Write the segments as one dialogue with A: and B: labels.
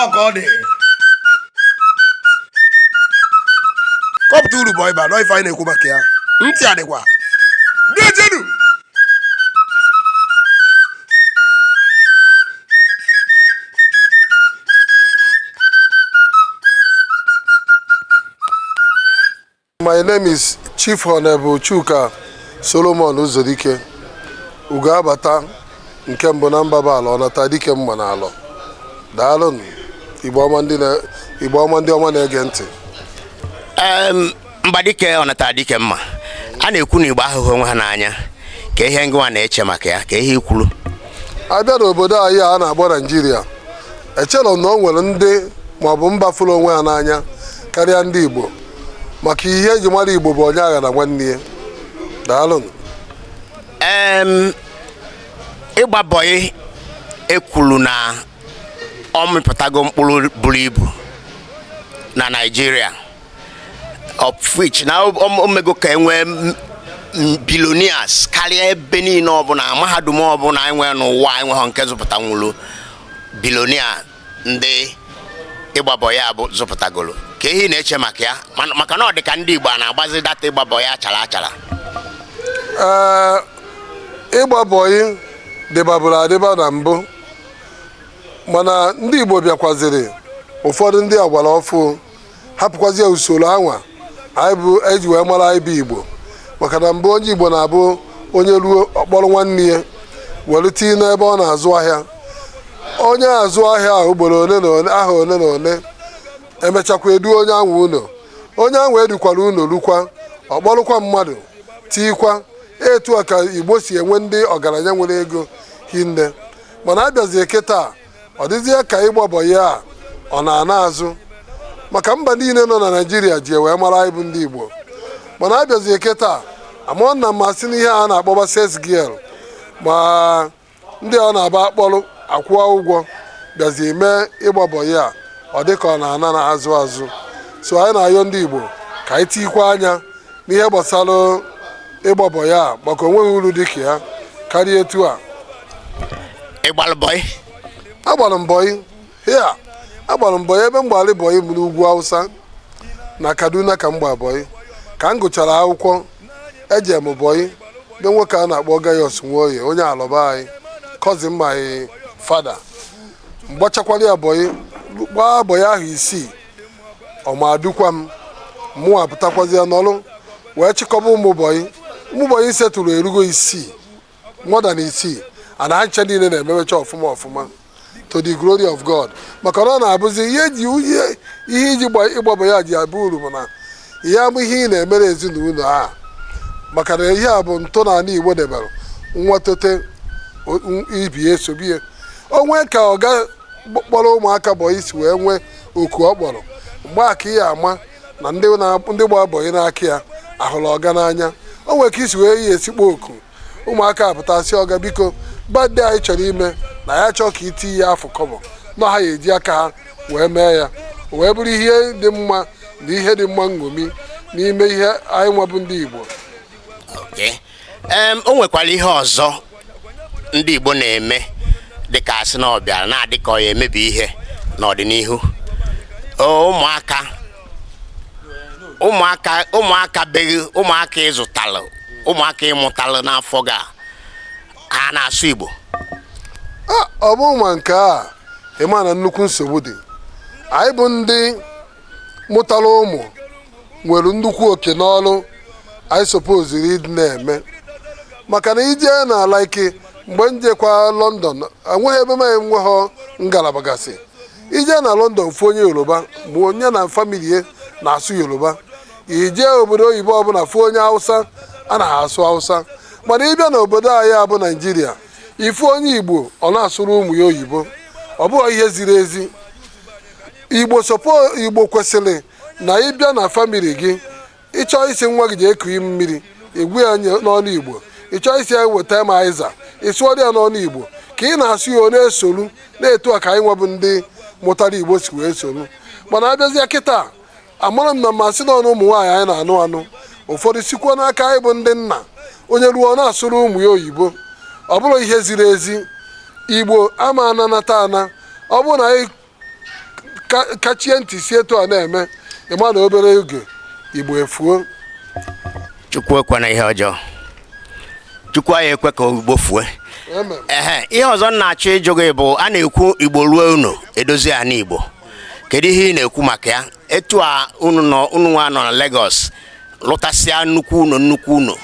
A: ọ ka ọ dị kọpụta uru bụ ịba nọ ife anyị na-ekwu maka ya ntị adịkwa dejenu
B: My name is Chief Honorable Chuka Solomon Uzodike ugo abata nke mbụ na mbaba alọ ọnata dike mma na alọ daalụnụ Igbo ọma ndị ọma na-ege ntị Em,
C: mba dike ọnata dike mma a na-ekwu na igbo ahụghị onwe ha n'anya kee ihe ngịnwa na-eche maka ya kee ihe i kwulu a
B: bịa n'obodo anyị a na-akpọ naijiria echere m na o nwere ndị maọbụ mba fụrụ onwe ha n'anya karịa ndị igbo maka ihe e ji mara igbo bụ onye aghana nwanne ya
C: daalụnụ ịgba bọyị e kwuru na ọ mịpụtago mkpụrụ buru ibu na naijiria of which na o mego ka e nwee billionaires karịa ebe niile ọbụla mahadum ọbụla e nwe n'ụwa enweghị nke zụpụtanwuru billionaire ndị ịgba bọyị a bụ zụpụtagolu kee ihe ị na-eche maka ya maka na ọ dị ka ndị Igbo a na-agbazi data ịgba bọyị achara achara
B: ịgba bọyị dịbaburu adịba na mbụ mana ndị Igbo bịakwaziri ụfọdụ ndị agbara ọfụụ hapụkwazie usoro anwa anyị e ji wee mara anyị bụ igbo maka na mbụ onye igbo na-abụ onye ruo ọ kpọrọ nwanne ya were tinye n'ebe ọ na-azụ ahịa onye azụa ahịa a ugboro ole na ole ahọ ole na ole e mechakwa e duo onye anwa ụlọ onye anwa e dukwara ụlọ rukwa ọ kpọrụkwa mmadụ tikwa etu a ka igbo si enwe ndị ọgaranya nwere ego hinne mana a bịazie kịta ọ dịzie ka ịgba bọyị a ọ na-ana azụ maka mba niile nọ na naijiria ji wee mara anyị bụ ndị igbo mana a bịazie kịtaa amụọ na mmasị n'ihe a na-akpọba sales girl ma ndị ọ na-abụ a kpọrọ a kwụọ ụgwọ bịazi mee ịgba bọyị a ọ dị ka ọ na-ana azụ azụ so anyị na-ayọ ndị igbo ka anyị tikwa anya n'ihe gbasara ịgba bọyị a maka o nweghị uru dị ka ya karịa etu
C: a ị gbalụ bọyị agbara
B: m bọyị ya agbara m bọyị ebe m gbalụ bọyị bụ n'ugwu hausa na kaduna ka m gba bọyị ka m gụchara akwụkwọ eje m bọyị be nwoke a na-akpọ gaius nwoye onye alọ be anyị cousin my father m gbachakwara ya bọyị gbaa bọyị ahọ isii ọmadukwa m mụwa pụtakwazi ya n'ọlụ wee chịkọba ụmụbọyị ụmụbọyị m setụrụ erugo isii more than isii na ha ncha niile na-ememecha ọfụma ọfụma to the glory of God maka na ọ na-abụzi ihe ji ihe iji ịgba bọyị ji abụ uru bụ na ihe a bụ ihe ị na-emere ezinụlọ a maka na ihe a bụ ntọala igbo debere nwa tote ibe esobie o nwee ka ọga kpọrọ ụmụaka bọyị si wee nwee oku ọ kpọrọ mgbe aka ị ya-ama na ndị gba bọyị n'aka ya ahụrọ ọga n'anya o nwere ka i si wee ya-esi kpọọ oku ụmụaka apụta sị ọga biko birthday anyị chọrọ ime na ya achọọ ka i tiye afụ kọbọ na ha ya-eji aka ha wee mee ya o wee bụrụ ihe dị mma na ihe dị mma nṅomi n'ime ihe anyị nwa
C: bụ
B: ndị
C: igbo Okay.
B: Em, o
C: nwekwara ihe ọzọ ndị Igbo na-eme dịka a sị na ọ bịara na-adị ka ọ ya-emebi ihe n'ọdịnihu O, ụmụaka ụmụaka ụmụaka be gị ụmụaka ị zụtalụ ụmụaka ị mụtalụ n'afọ gị ka a na-asụ Igbo
B: Ah, ọ bụ ma nke a ị ma na nnukwu nsogbu dị anyị bụ ndị mụtara ụmụ nwere nnukwu oke na ọrụ anyị sopoziri ịdị na-eme maka na i jee na like mgbe m jekwa London enweghị ebe m enweghị ngalaba gasị i je na london fụ onye yoruba ma onye na famili ya na-asụ yoruba i je obodo oyibo ọbụla fụ onye hausa a na ha asụ hausa mana ị bịa na obodo anyị a bụ naijiria ị fụ onye igbo ọ na-asụrụ ụmụ ya oyibo ọ bụghị ihe ziri ezi igbo sopo igbo kwesịrị na ị bịa na famili gị ị chọọ ịsị nwa gị jee kunye mmiri ị gwa ya n'ọnụ igbo ị chọọ ịsị ya weta m azịza ị sụọrọ ya n'ọnụ igbo ka ị na-asụ ya ọ na-esolu na etu a ka anyị nwa bụ ndị mụtara igbo si wee solu mana a bịazia kịta amarọ m ma o si n'ọnụ ụmụ nwaanyị anyị na-anụ anụ ụfọdụ sikwa n'aka anyị bụ ndị nna onye ruo ọ na-asụrụ ụmụ ya oyibo ọ bụrọ ihe ziri ezi igbo ama ananata ana ọ bụrụ na anyị kachie ntị si etu a na-eme ị ma na obere oge igbo
C: efuo chukwu ekwena ihe ọjọọ chukwu anyị ekwe ka igbo fue ehe ihe ọzọ m na-achọ ịjụ gị bụ a na-ekwu igbo ruo ụnọ e dozie ana igbo kedu ihe ị na-ekwu maka ya etu a unu nọ unu nwa nọ na Lagos lụtasịa nnukwu ụnọ nnukwu ụnọ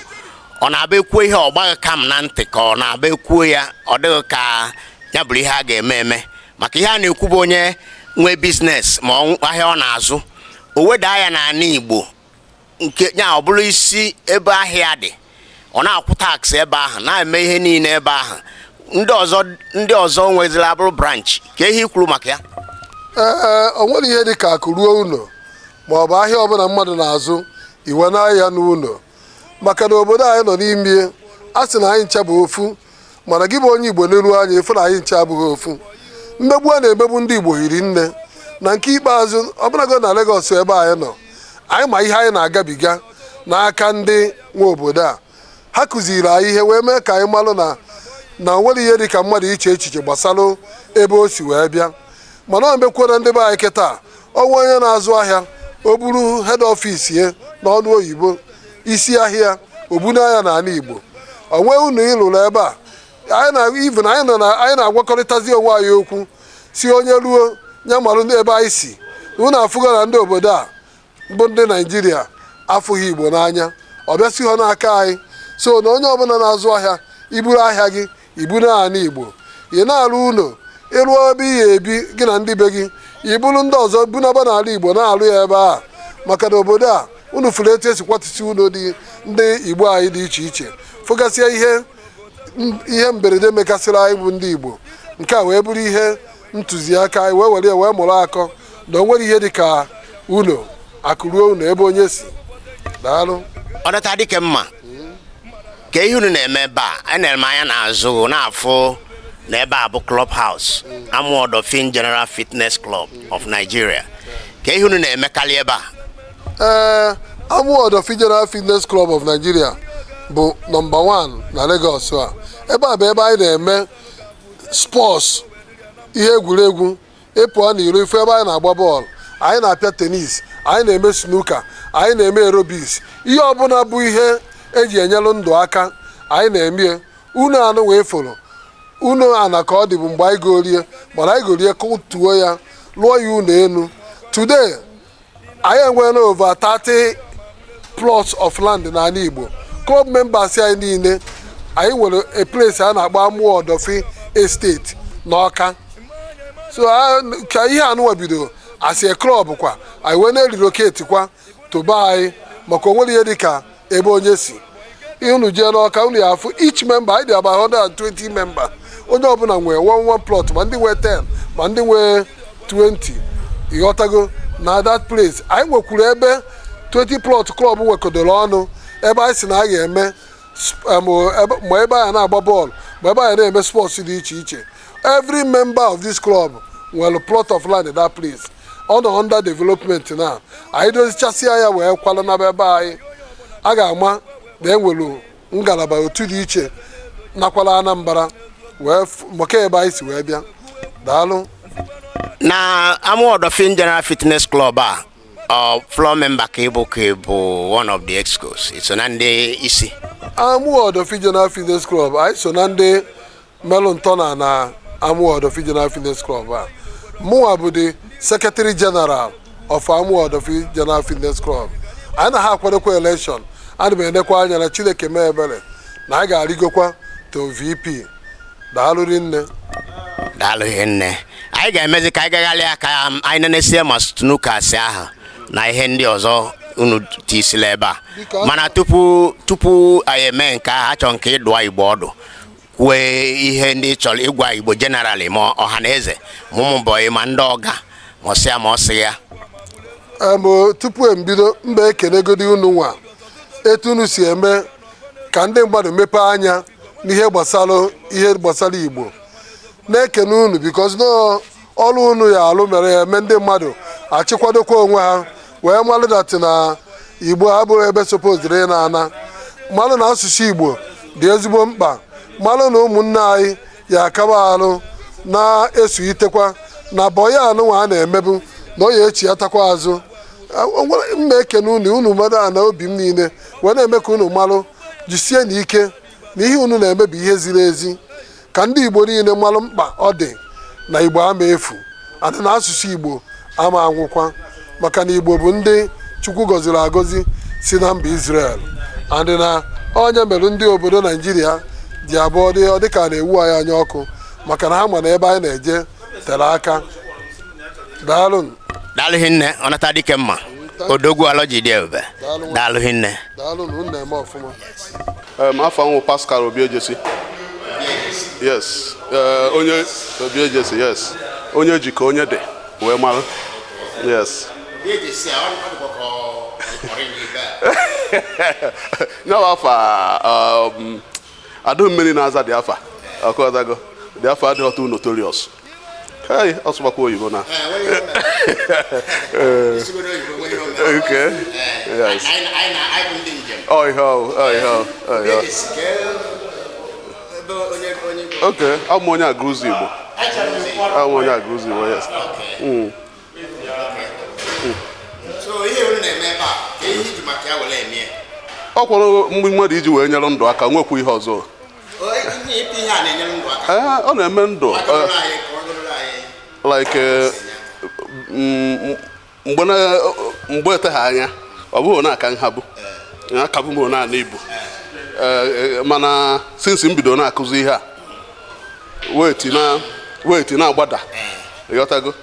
C: ọ na-abụ e kwuo ihe ọ gbaa gị kam na ntị ka ọ na-abụ e kwuo ya ọ dị gị ka ya bụrụ ihe a ga-eme eme maka ihe a na-ekwu bụ onye nwee business ma ọ nw- ahịa ọ na-azụ o wedaa ya n'ala igbo nke ya ọ bụrụ isi ebe ahịa dị ọ na-akwụ tax ebe ahụ na-eme ihe niile ebe ahụ ndị ọzọ ndị ọzọ nwezila abụrụ branch kee ihe i kwuru maka ya ee
B: o nwere ihe dị ka akụ ruo ụnọ ma ọ bụ ahịa ọbụna mmadụ na-azụ i wenaa ya n'ụnọ maka na obodo anyị nọ n'ime a sị na anyị ncha bụ ofu mana gị bụ onye igbo neruo anya ị fụ na anyị ncha abụhọ ofu mmegbu a na-emegbu ndị igbo hiri nne na nke ikpeazụ ọbụnago na Lagos ebe anyị nọ anyị ma ihe anyị na-agabiga n'aka ndị nwe obodo a ha kụziri anyị ihe wee mee ka anyị malụ na na o nwere ihe dị ka mmadụ iche echiche gbasara ebe o si wee bịa mana o mekwuo na ndị be anyị kịta o nwee onye na-azụ ahịa o buru head office ya na ọnụ oyibo isi ahịa o bunaa ya na ala igbo o nwee ụnọ ị lụrụ ebe a anyị na even anyị nọ na anyị na-agwakọrịtazi onwe anyị okwu sị onye ruo ya malụ ebe anyị si unu afụgo na ndị obodo a bụ ndị naijiria afụhọ igbo n'anya ọ bịa sihọ n'aka anyị so na onye ọbụna na-azụ ahịa i buru ahịa gị i bunaa anị igbo ị na-arụ ụnọ ị rụọ ebe ị ga-ebi gị na ndị be gị i buru ndị ọzọ bunaba n'ala igbo na-arụ ya ebe a maka na obodo a unu fụrụ etu e si kwatusị ụnọ dị ndị igbo anyị dị iche iche fụgasịa ihe ihe mberede mekasịrị anyị bụ ndị igbo nke a wee bụrụ ihe ntụziaka anyị wee were ya wee mụrụ akọ na o nwere ihe dị ka ụnọ akụ ruo ụnọ ebe onye si daalụ ọdọta dike
C: mma kee ihe unu na-eme ebe a enere m anya n'azụ gị na-afụ na ebe a bụ club house Amuwo Odofin general fitness club of nigeria kee ihe unu na-emekarị ebe a ee Amuwo Odofin
B: general fitness club of nigeria bụ nọmba 1 na Lagos a ebe a bụ ebe anyị na-eme sports ihe egwuregwu ị pụọ n'iro ị fụ ebe anyị na-agba bọọlụ anyị na-apịa tennis anyị na-eme snooker anyị na-eme aerobics ihe ọbụna bụ ihe e ji enyelụ ndụ aka anyị na-emie ụnọ anụwa ị fụrụ ụnọ ana ka ọ dịbu mgbe anyị gorie but anyị gorie kụtuo ya lụọ ya ụnọ enu today anyị enweela over 30 plots of land n'ala Igbo club members anyị niile anyị nwere a place a na-akpọ Amuwo Odofin estate n'ọka so ka ihe anụwa bidoro as a club kwa anyị wee na-erelocate kwa to be anyị maka o nwere ihe dịka ebe onye si if unu jee n'ọka unu ya afụ each member anyị dị about 120 member onye ọbụla nwee one one plot ma ndị nwee 10 ma ndị nwee 20 ịghọtago na that place anyị nwekwuru ebe 20 plot club nwekodoro ọnụ ebe anyị si na a ga-eme sp- em, ebe- ma ebe anyị na-agba bọọlụ ma ebe anyị na-eme sports dị iche iche every member of this club nwere plot of land in that place ọ nọ under development na anyị dozichasịa ya wee kwala na be anyị a ga-ama na e nwere ngalaba otu dị iche nakwa ala anambra wee f- maka ebe anyị si wee bịa daalụ
C: na amuwo odofin general fitness club a ọ floor member ka ị bụ ka ị bụ one of the excos i so na ndị isi amuwo
B: odofin general fitness club anyị so na ndị melụ ntọana na Amuwo Odofin General Fitness Club a mụnwa bụ the Secretary General of Amuwo Odofin General Fitness Club anyị na ha akwadokwa election ana m enekwa anya na Chineke mee ebere na anyị ga-arịgokwa to VP daalụ rinne
C: daalụ hinne anyị ga-emezi ka anyị gagharịa ka anyị nenesie ma snookers ahụ na ihe ndị ọzọ unu tisila ebe a mana tupu tupu anyị eme nke ahụ achọ m ka ị dụa igbo ọdụ kwue ihe ndị ị chọrọ ịgwa igbo generally ma ọha na eze ma ụmụ bọyị ma ndị ọga ma ọsịa ma ọsị ya
B: tupu m ebido m ga-ekenegodi unu nwa etu unu si eme ka ndị mmadụ mepee anya n'ihe gbasara ihe gbasara igbo na-ekene unu because na ọrụ unu ya alụ mere ya eme ndị mmadụ achịkwadokwa onwe ha wee malụ that na igbo a bụ ebe sopoziri ị na-ana malụ na asụsụ igbo dị ezigbo mkpa malụ na ụmụnne anyị ya akaba alụ na-esuitekwa na bọya anụnwa a na-emebu na ọ ya echi ya takwa azụ m na-ekene unu unu mmadụ a na obi m niile wee na-eme ka unu malụ jisie n'ike na ihe unu na-eme bụ ihe ziri ezi ka ndị Igbo niile malụ mkpa ọ dị na Igbo ama efu and na asụsụ Igbo ama anwụkwa maka na Igbo bụ ndị Chukwu gọziri agọzi si na mba Israel and na ọ nya mere ndị obodo Naijiria ji abụ ọ dị ọ dịka na-ewu anyị anya ọkụ maka na ha ma na ebe anyị na-eje tere aka daalụ daalụ
C: hinne Ọnatadikemma odogwu alọji dị ebube daalụ hinne daalụ na unu na-eme
B: ọfụma
D: afa m wụ Pascal Obiejesi yes eh, onye Obiejesi yes onye ji ka onye dị wee mara yes nya wụ afa um, adụ mmiri na-aza dị afa ọkụọdago dị afa adịghị too notorious Hey, ọ sụbakwa oyibo na. Okay. Yes. Oh, ihe ọwụ, oh, ihe ọwụ, oh, ihe ọwụ. Okay, abụ m onye Agụlụzịgbo. Abụ m onye Agụlụzịgbo,
C: yes. Mm. Ọ kwụrụ
D: mgbe mmadụ iji wee nyere ndụ aka nwekwu ihe ọzọ.
C: ọ na-eme
D: ndụ like eh, mm, mgbe eteghị anya ọ bụghị na a ka m ha bu akabu m na ibu eh, eh, mana since m bido na-akụzi ihe a weight na-agbada ị ghọtago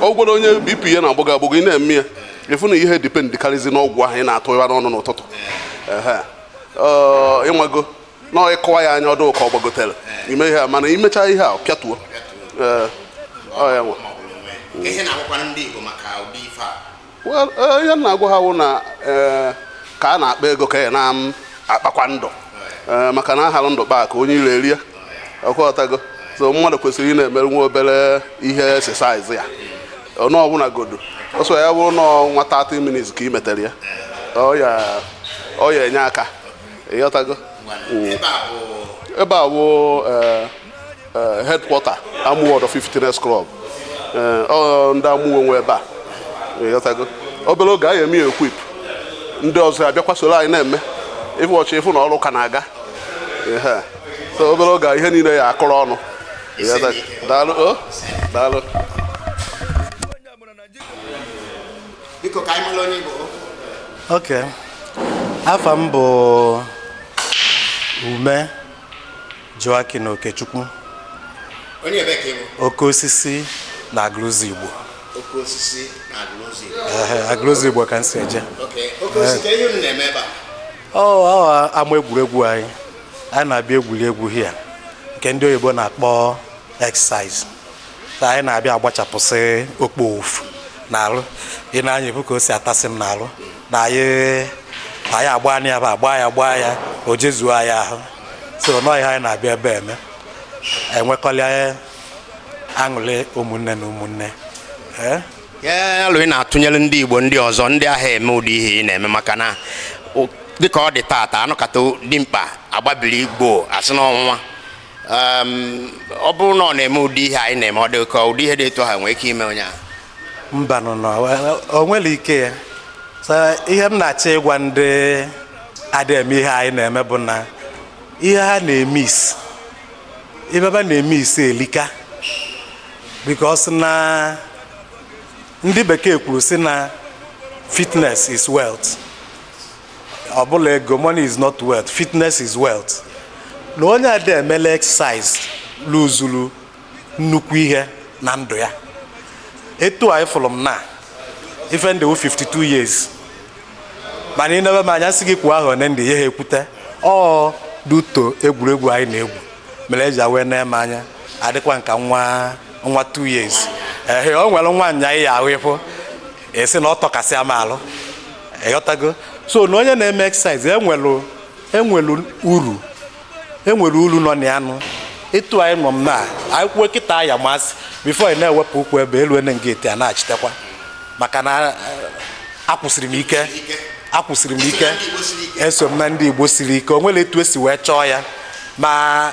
D: ọ wụgodu onye bp ya na-agbago agbago ị na-eme ya ị fụ na ihe depend karịzi n'ọgwụ ahụ ị na-atụ ya n'ọnụ n'ụtụtụ ịnwago na ịkọwa ya anya ọ dị ka ọ gbagotere ime ihe a mana imechaa ihe a pịatuo
C: Well, eh, ihe m na-agwa ha wụ
D: na eh, ka a na-akpa ego ka ya na-akpakwa ndụ Eh, maka na a halụ ndụ kpaa akụ onye iro erie ị ghọtago so mmadụ kwesịrị ịna-emere nwa obere ihe exercise ya na ọ bụnagodu ọsọ ya bụrụ na nwa 30 minutes ka ị metere ya ọ ya-enye aka ị ghọtago Mm. ebe a bụ eh, eh, headquarter Amuwo Odofin Fitness Club eh, ọ ndị Amuwo nwe ebe a ị ghọtago obere oge anyị eme ya equip ndị ọzọ abịakwa soro anyị na-eme ịfụ ọchị ị fụ na ọrụ ka na-aga Ehe. so obere oge a, ihe niile ya-akụrụ ọnụ Ị ghọtago? daalụ o daalụ
C: biko ka anyị mara onye ị bụ ok
E: afa m bụ ume joachim okechukwu
C: onye ebe ka ị bụ oke osisi
E: na agụlụzịgbo oke
C: osisi na agụlụzịgbo agụlụzịgbo ka m
E: si eje oke osisi kee
C: ihe unu na-eme ebe a ọ ama
E: egwuregwu anyị anyị na-abịa egwuri egwu here nke ndị oyibo na-akpọ exercise na anyị na-abịa agbachapụsị okpoofu n'arụ i nee anya ibu ka o si atasị m n'arụ na anyị na anyị agba ya bụ agba ya gbaa ya o jezuo anyị ahụ so na ọ ihe anyị na-abịa ebe eme enwekọlịa aṅụrị ụmụnne na
C: ụmụnne kee alo ị na-atụnyere ndị igbo ndị ọzọ ndị anaghị eme ụdị ihe ị na-eme maka na o- dịka ọ dị taata a nọkata dimkpa agbabiri igbo asị n'ọnwụnwa ọ bụrụ na ọ na-eme ụdị ihe anyị na-eme ọ dị ka ụdị ihe dị etu a nwee ike ime onye ahụ mbanụ
E: na o nwere ike ya so ihe m na-achọ ịgwa ndị adị eme ihe anyị na-eme bụ na ihe ha na-emiss ibe ba na-emiss elika because na ndị bekee kwuru sị na fitness is wealth ọ bụla ego money is not wealth fitness is wealth na onye adị emele exercise luzuru nnukwu ihe na ndụ ya etu a ị fụrụ m na ife m dị 52 years mana ị nebe m anya sị gị kwuo ahọ one m dị ị yaha ekwute ọ due to egwuregwu anyị na-egwu mere e ji wee na-ene m anya adịkwa m ka nwa nwa 2 years ee o nwere nwanya ị ya-ahụ ịfụ a sị na ọ tọkasịa m alụ ịghọtago so na onye na-eme exercise enwelu enwelu uru enwere uru nọ na ya nụ etu anyị nọ m na anyị kwuo kịta ya masị before ị na-ewepụ ụkwụ ebe elu ene nga eti a na-achitekwa maka na eh, akwụsịrị m ike akwụsịrị m ike eso m na ndị igbo siri ike o nwere etu e si wee chọọ ya ma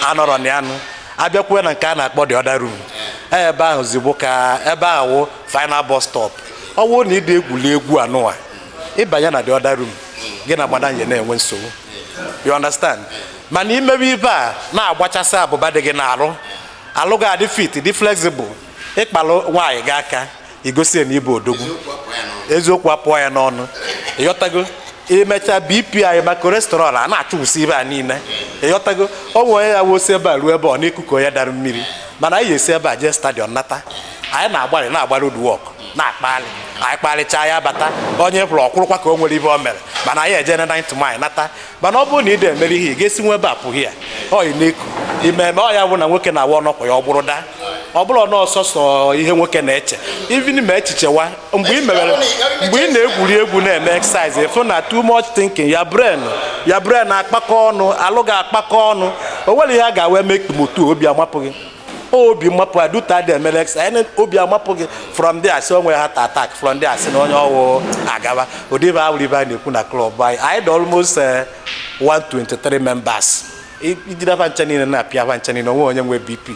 E: anọrọ na ya nụ a bịakwa na nke a na-akpọ the other room ebe ahụzi bụkwa ebe wụ final bus stop ọ wụ na ị dị egwuli egwu a nụwa ị banye na the other room gị na madam ya na-enwe nsogbu you understand mana ị mewe ibe a na-agbachasị abụba dị gị n'arụ alụ gị adị fit dị flexible ị kpalụ nwaanyị gị aka i gosi ya na ị bụ odogwu eziokwu apụọ ya n'ọnụ ịghọtago i mecha bp anyị ma cholesterol a na-achụwụsị ibe a niile ịghọtago o nwere ya wụ o si ebe a ruo ebe ọ na-eku ka onye dara mmiri mana anyị esi ebe a jee stadium nata anyị na-agbalị na-agba road work na-akpalị anyị kparịchaa ya bata onye ọ bụla akwụrụkwa ka o nwere ibe o mere mana anyị eje na 9th mile nata mana ọ bụrụ na ị dị emere ihe ị ga-esi nwe ebe a pụghị ya ọyị na-eku ume ume ọ ya bụ na nwoke na-awa ọnọkwa ya ọ bụrụ daa ọ bụrụ na ọ sọsọ ihe nwoke na-eche even ma echichewa mgbe ị mewere mgbe ị na-egwuri egwu na-eme exercise ị fụ na too much thinking your brain your brain akpakọ ọnụ alụ gị akpakọ ọnụ o nwere ihe a ga-awa eme ekpemotu obi amapụ gị obi mapụa due to adị emere exercise obi amapụ gị from there a sị o nwere heart attack from there a sị na onye ọ wụ agaba ụdị bụ awụrụ ibe a na-ekwu na club anyị anyị dị almost eh, 123 members I- ị jide fa ncha niile na-apịa fa ncha niile o nwee onye nwe bp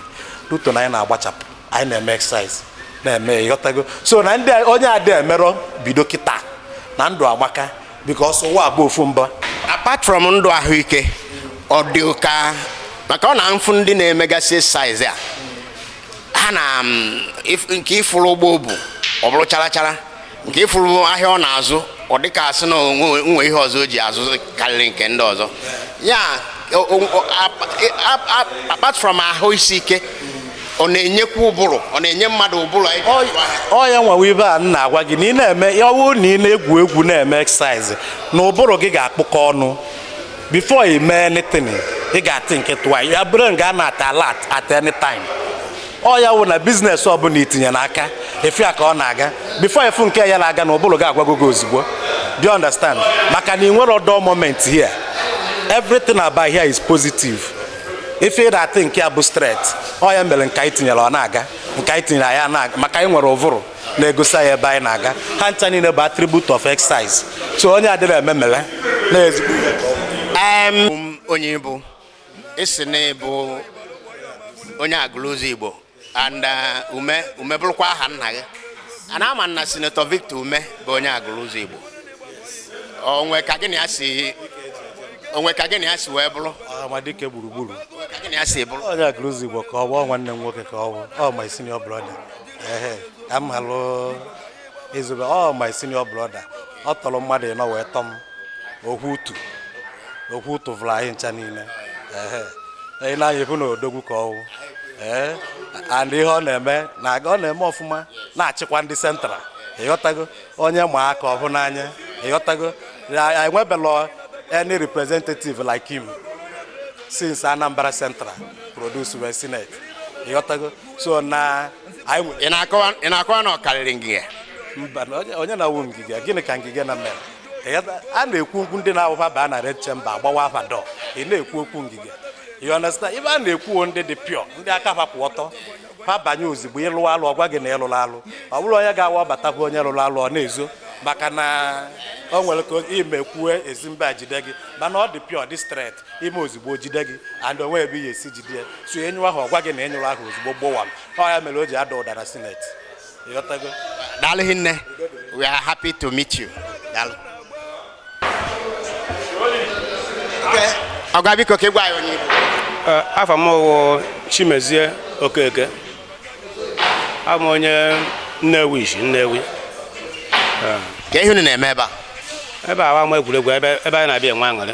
E: due to na anyị na-agbachapụ anyị na-eme exercise na-eme ịghọtago so na ndị a- onye adị emerọ bido kịta na ndụ amaka because ụwa bụ ofu mbịa apart from
C: ndụ ahụike ọ dị ụka maka ọ na m fụ ndị na-emegasị exercise a ha na mm, if- nke ị fụrụ ụgbọ o bu ọ bụrụ chara chara nke ị fụrụ ahịa ọ na-azụ ọ dịka a sị na o nwe ihe ọzọ o ji azụ karịrị nke ndị ọzọ ya o- o- o- ap- ap- ap- apart from ahụ isi ike ọ na-enyekwa ụbụrụ ọ na-enye mmadụ ụbụrụ anyị Ọ- ọ
E: ya nwa wụ ive a m na-agwa gị na ị na-eme ya ọ bụrụ na ị na-egwu egwu na-eme exercise na ụbụrụ gị ga-akpụkọ ọnụ before ị mee anything ị ga-athink twice your brain ga-anọ at alert at any time ọ ya wụ na business ọbụla i tinye n'aka ị fụ ya ka ọ na-aga before ị fụ nke ya na-aga na ụbụrụ gị agwago gị ozugbo do you understand maka na i nwerọ dull moment here everything about here is positive ife ị na-athink ya bụ straight ọ ya mere nke anyị tinyere ọ na-aga nke anyị tinyere ya na-aga maka anyị nwere ụvụrụ na-egosi anyị ebe anyị na-aga ha ncha niile bụ attribute of exercise so onye adịrị eme mere na-ezigbo
C: Em, onye ị bụ ị sị na ị bụ onye Agụlụzigbo and uh, Umeh Umeh bụrụkwa aha nna gị a na-ama na Senator Victor Umeh bụ onye Agụlụzigbo o nwe ka gị na ya si o nwe ka gị na ya si wee bụrụ Ọhamadike gburugburu
E: ka gị na ya si
C: bụrụ onye Agụlụzigbo ka ọ
E: bụ nwanne m nwoke ka ọ bụ ọ my senior brother ehe ka m halụ ezigbo ọ my senior brother ọ tọrọ mmadụ ịnọ wee tọ m ohu utu ohu utu vụrụ anyị ncha niile anyị na-anya ekwu na odogwu ka ọ wụ ee and ihe ọ na-eme na-aga ọ na-eme ọfụma na-achịkwa ndị Central ị ghọtago onye ọma ka ọ wụ n'anya ị ghọtago enwebelọ any representative like him since Anambra Central produce wee Senate ị ghọtago so na ị
C: na-akọwa na ọ karịrị Ngige mba
E: onye na-awụ Ngige gịnị ka Ngige na mere a na-ekwu okwu ndị na-awụ fa baa na red chamber agbawa afa dọ ị na-ekwu okwu Ngige you understand ive a na-ekwu ndị dị pure ndị aka ha kwụ ọtọ ha banye ozugbo ị lụ alụ ọ gwa gị na ị lụrụ alụ ọ bụrụ onye ga-awa ọ bata bụ onye lụrụ alụ ọ na-ezo maka na o nwere ka i me kwue ezi mba jide gị mana ọ dị pure dị straight i me ozugbo jide gị and o nwe ebe ihe e si jide ya so ị nyụ ahụ ọ gwa gị na ị nyụrụ ahụ ozugbo gbowam ọ ya mere o ji ada ụda na Senate daalụ
C: hinne we are happy to meet you daalụ ọga biko ka ị gwa anyị onye eh, afa m
F: wụ Chimezie Okeke abụ m onye Nnewi i si Nnewi
C: eh. kee ihe unu na-eme ebe a ebe a wụ ama
F: egwuregwu ebe anyị na-abịa enwe aṅụrị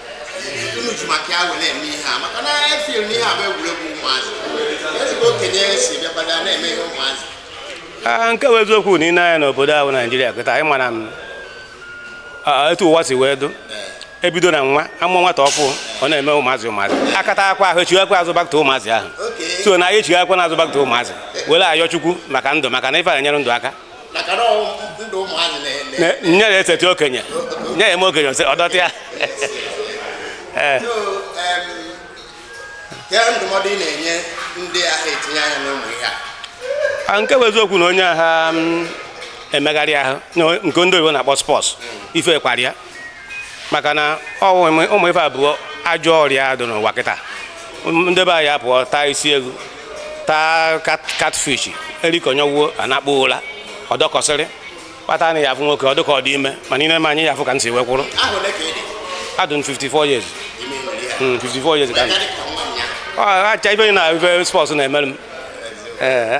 F: Ah, nke bụ eziokwu na i nee anya n'obodo ahụ naijiria kịta anyị mara m ah, ah, etu ụwa si wee dụ ebido na nwa a mụọ nwata ọfụụ ọ na-eme ụmụazị ụmụazị akata akwa ahụ echighakwa azụ back to ụmụazị ahụ so na anyị echighakwa na azụ back to ụmụazị were ayọ chukwu maka ndụ maka na ife na-enyere ndụ aka nye ya eseti okenye nye ya eme okenye ose ọdọta ya
C: eh. ah,
F: nke bụ eziokwu na onye agha mm, emegharị ahụ nke ndị oyibo na-akpọ sports ife kparịa maka na ụmụ ife a bụ ajọ ọrịa dị n'ụwa kịta ndị be anyị apụọ taa isi eghu taa catfish erikonyewo anakpuo ụla ọ dọkọsịrị kpata na ị ya-afụ nwoke ọ dụka ọ dị ime mana i nee m anya ị ya-afụ ka m si wee kwụrụ adụ m 54 years 54 hmm, years ka acha ị fụna ife sports na-emere m ee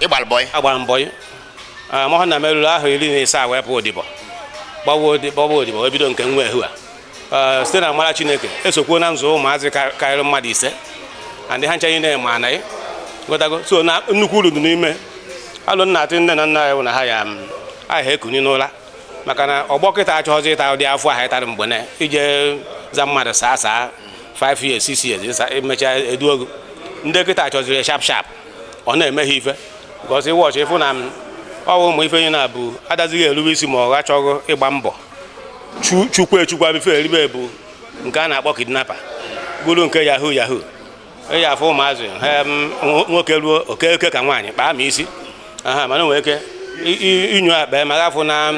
F: ị gbara bọị agbara m bọị mọha na m ruru afọ iri na ise a wee pụ odibo gbawa odibo wee bido nke nwa ehu a site n'amara chineke esokwuo na nzụ ụmụazị karịrị mmadụ ise and ha ncha niile ma anaghị gotago so na nnukwu uru dị n'ime alo m na-atụ nne na nna anyị bụ na ha ya aha ekuni n'ụra maka na ọgbọ kịta achọghọzi ịta ụdị afụ ahụ ị tara mgbe ị na-eje aza mmadụ sir sir 5 years 6 years emechaa eduo gị ndị kịta chọziri sharp sharp ọ na-eme ha ife because ị watch ị fụ na ọ wụ ụmụ ife nye na-abụ adazighị erube isi ma ọ gachọghị ịgba mbọ chukwu echukwa bife eribe bụ nke a na-akpọ kidnapper bụrụ nke yahoo yahoo ị ya-afụ ụmụazị nwoke ruo oke oke ka nwaanyị kpaa ma isi aha mana nwere ike inyo akpa ma ga-afụ na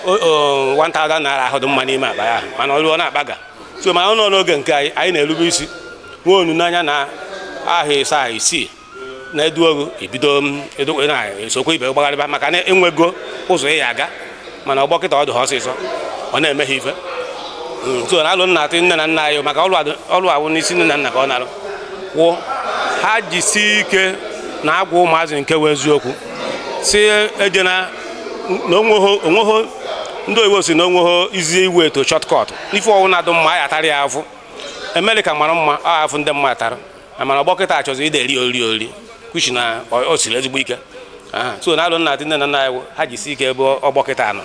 F: 1000 naira ahụ dị mma n'ime akpa ya mana ọ ruo na-akpaga so mana n'oge nke anyị anyị na-erube isi nwee olileanya na afọ ise afọ isii na eduo gị i bido edokwe na esokwa ibe gbagharịba maka na i nwego ụzọ ị ya-aga mana ọgbọ kịta ọ dị ha ọsịsọ ọ na-eme ha ife hmm, so na alo m na-atụ nne na nna anyị maka ọlụ a wụ n'isi nne na nna ka ọ na-alụ wụ ha jisi ike na-agwa ụmụazị nke wụ eziokwu si eje na onweghị ndị oyibo sị na onweghị easy way to shortcut n'ife ọwụna dụ mma a ya-atara ya afụ Amerịka mara mma ọ afụ ndị mmadụ tara mana ọgbọ kịta achọzi ide eri ori ori kuchi na o siri ezigbo ike so na alo m na-atụ nne na nna anyị ha jisi ike ebe ọgbọ kịta nọ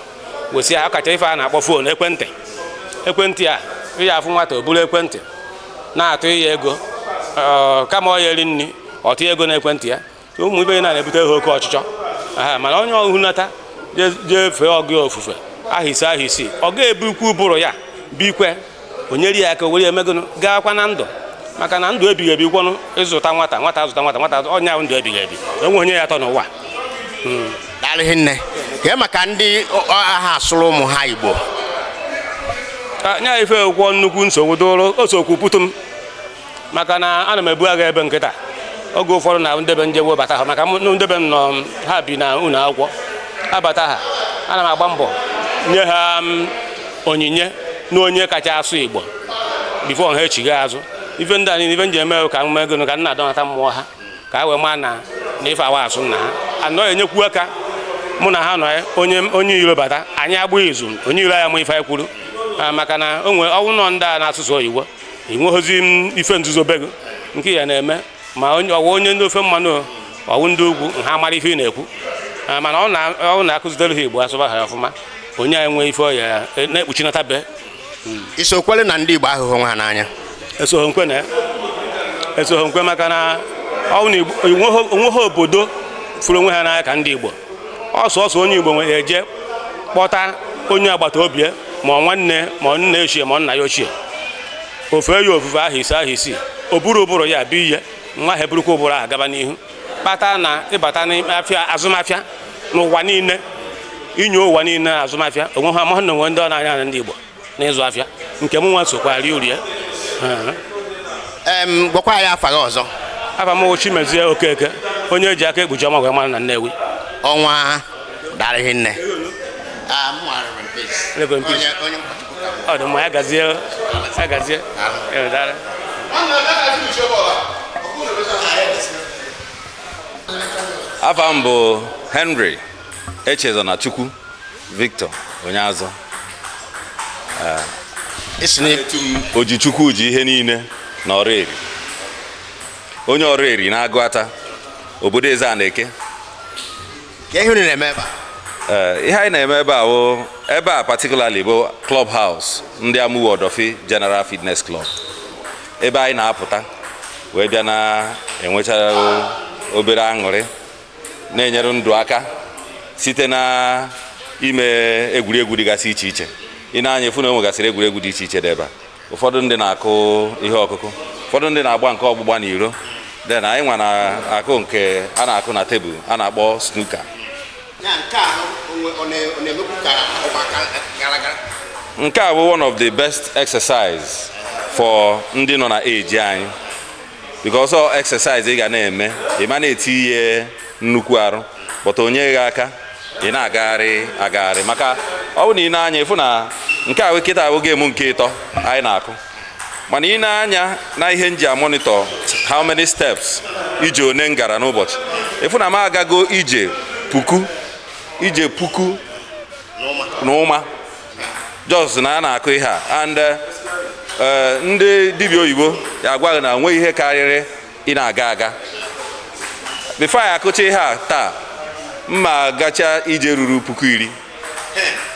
F: wesi ha kacha ife a na-akpọ phone ekwentị ekwentị a ị ya-afụ nwata o buru ekwentị na-atụ ya ego kama ọ ya-eri nri ọ tụọ ego na ekwentị ya ụmụ ibe na na-ebute ha oke ọchịchọ mana onye ọhụnata jee fee ọga ya ofufe ahọ ise ahọ isii ọ ga-ebukwu ụbụrụ ya bikwe o nyeri ya aka were ya mee gụnụ gaakwa na ndụ maka na ndụ ebighị ebi kwọnụ ịzụta nwata nwata azụta nwata nwata onye ahụ ndụ ebighị ebi o nwe onye ya-atọ n'ụwa
C: hmm. daalụ hinne kee maka ndị aha asụrụ ụmụ ha Igbo
F: nya ife i kwuo nnukwu nsogbu dụrụ o sokwu putu m maka na ana m ebu agha ebe nkịta oge ụfọdụ na nde be m je wee bata ha maka mụ- nde be m nọ m, ha bi na ụlọ akwụkwọ abata ha ana m agba mbọ nye ha m, onyinye na onye kacha asụ Igbo bifo ha echigha azụ ife ndị a niile ife m ji eme bụ ka m mee gịnị ka m na-adọnata mmụọ ha ka ha wee maa na na ife awa asụ na ha anọ enyekwu aka mụ na ha nọ ya, onye onye iro bata anyị agba izu onye iro ya ma ife anyị kwuru Ah, maka na o nwere ọnụ ụnọ ndị a na-asụ sọ oyibo i nweghịzi ife nzuzo be gị nke ị ya na-eme ma onye- ọ wụ onye ndị ofe mmanụ o, ọ wụ ndị ugwu ha mara ife ị na-ekwu Ah, mana ọ wụ na a kụzitere ha Igbo asụba ha ọfụma onye anyị nwee ife ọ ya na-ekpuchinata be i so
C: kwele na ndị Igbo ahụhụ onwe ha n'anya esoghị m kwe na
F: ya esoghị m kwe maka na ọ bụ na Igbo- o nweghị o nweghị obodo fụrụ onwe ha n'anya ka ndị Igbo ọ sọsọ onye Igbo nwere eje kpọta onye agbata obi ma nwanne ma nna ochie ma nna ya ochie o fee ya ofufe ahọ ise ahọ isii o buru ụbụrụ ya bie nwa ha eburukwa ụbụrụ ahụ gaba n'ihu kpata na ị bata n'afịa azụmafịa n'ụwa niile inye ụwa niile azụmafịa o nweha amahụ na o nwe ndị ọ na-anya na ndị Igbo n'ịzụ afịa nke m nwa sokwa rie uru ya
C: em gwakwa anyị afa gị ọzọ afa m
F: bụ Chimezie Okeke onye e ji Akaekpuchiọnwa wee mara na Nnewi Ọnwa
C: daalụ hinne Ah, mụ nwara
F: Reverend Peace. Reverend Peace. Onye- onye ụkọchukwu
G: ka m. ọ dị mma ya gazie ya gazie Eh, daalụ. afa m bụ Henry Echezonachukwu Victor Onyeazọ isi na-etu m O ji Chukwu ji ihe niile na Ọraeri onye Ọraeri na Agụata obodo eze a na-eke
C: kee ihe unu na-eme ebe a Ee, ihe
G: anyị na-eme ebe a wụ ebe a particularly bụ club house ndị Amuwo Odofin General Fitness Club ebe anyị na-apụta wee bịa na-enwecha obere aṅụrị na-enyere ndụ aka site na ime egwuregwu dịgasị iche iche i nee anya ị fụ na e nwegasịrị egwuregwu dị iche iche dị ebe a ụfọdụ ndị na-akụ ihe ọkụkụ ụfọdụ ndị na-agba nke ọgbụgba na iro then anyị nwa na-akụ nke a na-akụ na tebụl a na-akpọ snooker nke a bụ one of the best exercise for ndị nọ na age anyị because ọ exercise ị ga na-eme ị ma na-etiye nnukwu arụ but o nye gị aka ị na-agagharị agagharị maka ọ bụ na i nee anya ị fụ na nke a kịta bụ game nke ịtọ anyị na-akụ mana i nee anya na ihe m ji a-monitor how many steps ije one m gara n'ụbọchị ị fụ na m agago ije puku ije puku na ụma just na a na-akụ ihe a and eh, eh, ndị dibịa oyibo ya-agwa gị na enweghị ihe karịrị ị na-aga aga before anyị akụcha ihe a taa mụ agachaa ije ruru puku iri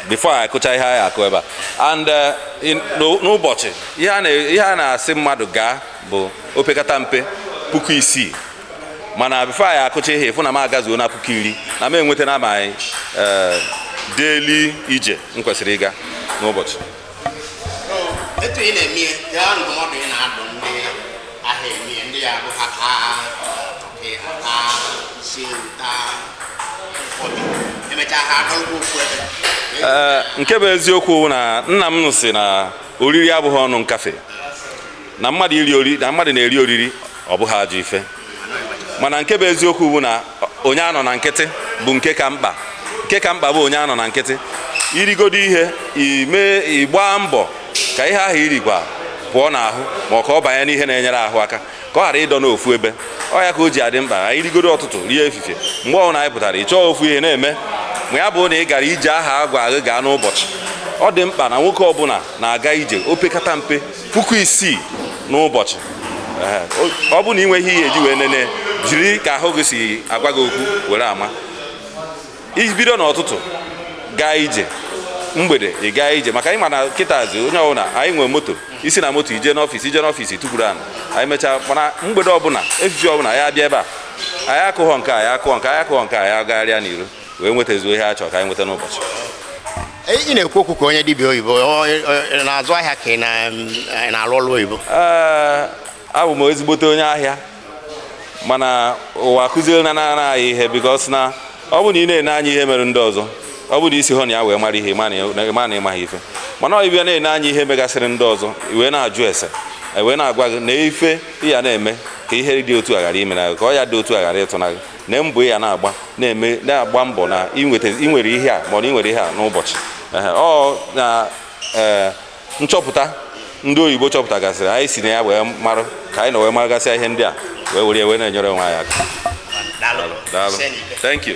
G: before anyị akụcha ihe anyị akụ ebe a and eh, n'ụbọchị ihe a na-asị mmadụ gaa bụ opekata mpe puku isii mana before anyị akụcha ihe ị fụ na m agazuona puku iri na m enwetana my eh, daily ije m kwesịrị ịga n'ụbọchị
C: etu ị na-eme ihe ya ndụmọdụ ị na-adụ ndị ahịa eme ihe ndị ya bụ ha taa ọkị ha taa isi ewu taa ụfọdụ emechaa ha adọrọkwa ofu ebe Ee, nke bụ eziokwu
G: bụ na nna m sị na oriri abụghị ọnụ nkafe na mmadụ iri oriri na mmadụ na-eri oriri ọ bụghị ajọ ife mana nke bụ eziokwu bụ na onye anọna nkịtị bụ nke ka mkpa nke ka mkpa bụ onye anọna nkịtị i rigodo ihe ime ị gbaa mbọ ka ihe ahụ i rikwa pụọ n'ahụ ma ọ ka ọ banye n'ihe na-enyere ahụ aka ka ọ ghara ịdọ n'ofu ebe ọ ya ka o ji adị mkpa anyị rigodo ọtụtụ rie efifie mgbe ọbụla anyị pụtara ị chọọ ofu ihe na-eme ma ya bụ na ị gara ije ahụ a gwa gị gaa n'ụbọchị ọ dị mkpa na nwoke ọbụla na-aga ije opekata mpe puku isii n'ụbọchị ọ bụ na ị nweghị ihe e ji wee nene jiri ka ahụ gị si agwa gị okwu were ama i bido n'ọtụtụ gaa ije mgbede ị gaa ije maka anyị ma na kịtazi onye ọbụla anyị nwere moto i si na moto i jee n'ọfịs i jee n'ọfịs tukwuru anị anyị mechaa mana mgbede ọbụla efifie ọbụla anyị abịa ebe a anyị akụghọ nke anyị akụghọ nke anyị akụghọ nke anyị agagharịa n'iro wee nwetazuo ihe a chọrọ ka anyị nweta n'ụbọchị
C: ị na-ekwu okwu ka onye dibịa oyibo na-azụ ahịa ka ị na-alụ ọrụ oyibo
G: abụ m ezigbote onye ahịa mana ụwa akụzierena anyị ihe because na ọ bụ na ị na-ene anya ihe mere ndị ọzọ ọ bụ na i sihọ na ya wee mara ihe ị ma na ị maghị ife mana ị bịa na-ene anya ihe megasịrị ndị ọzọ wee na-ajụ ese wee na-agwa gị na ife ị ya na-eme ka ihe dị otu a ghara imena gị ka ọya dị otu a ghara ịtụna gị na mbọ ị ya na-agba na-eme na-agba mbọ na i nweta i nwere ihe a ma ọ na i nwere ihe a n'ụbọchị Ehe, ọ na ee, nchọpụta ndị oyibo chọpụtagasịrị anyị si na ya wee marụ ka anyị nọ wee maragasịa ihe ndị a wee were ya wee na-enyere onwe anyị aka Daalụ. daalụ Send it. thank you